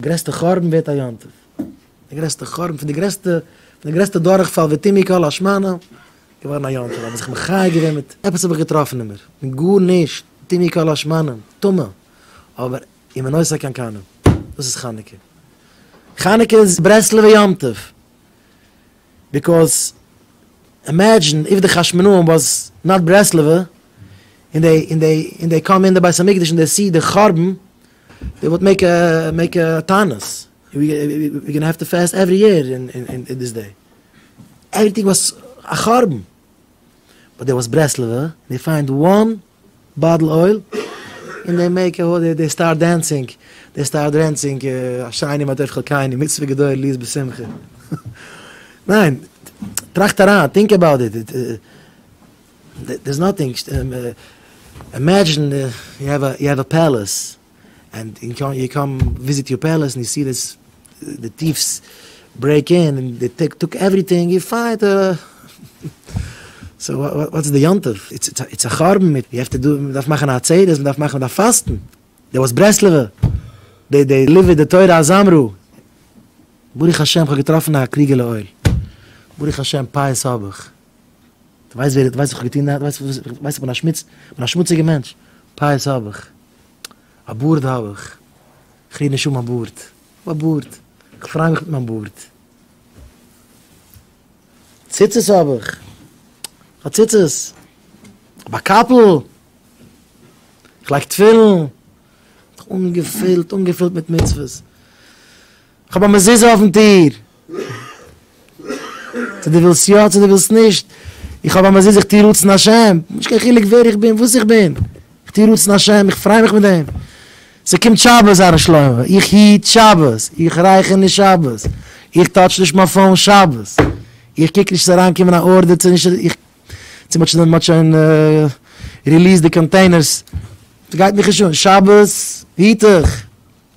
גרעסטע חורבן ווערט א יום טוב, די גרעסטע חורבן פון די גרעסטע פון די גרעסטע דורכפאל ותימי כל השמנה געווארן א יום טוב, האב איך זיך מחיה געווען מיט עפעס האב איך געטראפן אין מיר, מיט גארנישט, תימי כל השמנה, טמא, אבער אם אין עושה כן קנה, דאס איז חנוכה, חנוכה איז ברסלב'ע יום טוב, ביקאוז אימעדזשין איף די חשמונאים וואס נאט ברסלב'ע, און דעי און דעי און דעי קאם אין די בית המקדש און דעי סי די חורבן, דעי וואט מעיק מעיק טענות וויר גאנא העוו טו פעסט עווערי יער אין דיס דעי עוועריטינג וואס א חרבן באט דעי וואס ברסלבע דעי פיינד וואן באטל אויל אין דעי מעיק א הודי דעי סטארט דענסינג דעי סטארט דרענסינג אשרי מה טוב חלקינו מצוה גדול ליז בשמחה ניין טראכט אריין טינק אבאוט איט. דערס נאטינג, אימעדזשין יו העוו א יו העוו א פעלעס ענד יו קאם וויזיט יור פעלעס ענד יו סי דיס די טיפס ברעיק אין און די טיפס טאק עווריטינג יו פייט סאו וואטס די יום טוב איטס א חרבן מען דארף מאכן א עצרת מען דארף מאכן מען דארף פאסטן די וואס ברסלב'ע די די ליווי די תורה אז אמרו ברוך השם כ'האב געטראפן א קריגעלע אויל ברוך השם פייעס האב איך. דו ווייסט ווער, דו ווייסט וואס כ'האב געטון, דו ווייסט וואס, דו ווייסט כ'בין א שמוץ, כ'בין א שמוציגער מענטש, פאות האב איך, א בארד האב איך, כ'ריר נישט אן מיין בארד, כ'האב א בארד, כ'פריי מיך מיט מיין בארד, ציצית האב איך, כ'האב ציצית, כ'האב א קאפל, כ'לייג תפילין, אנגעפילט, אנגעפילט מיט מצוות. כ'האב א מזוזה אויפן טיר. צו דו ווילסט יא צו דו ווילסט נישט. איך האב א מזוזה איך טוה רצון השם. נישט קיין חילוק ווער איך בין וואס איך בין. איך טוה רצון השם איך פריי מיך מיט דעם. ס'קומט שבת הר ר שלמה. איך היט שבת. איך רייכער נישט שבת. איך טאטש נישט מיין פאון שבת. איך קוק נישט ס'זאל אריינקומען א ארדער צו נישט. איך צו מ'האט שוין מ'האט שוין ריליעסד די קאנטעינערס. ס'גייט מיך נישט אן. שבת היט איך.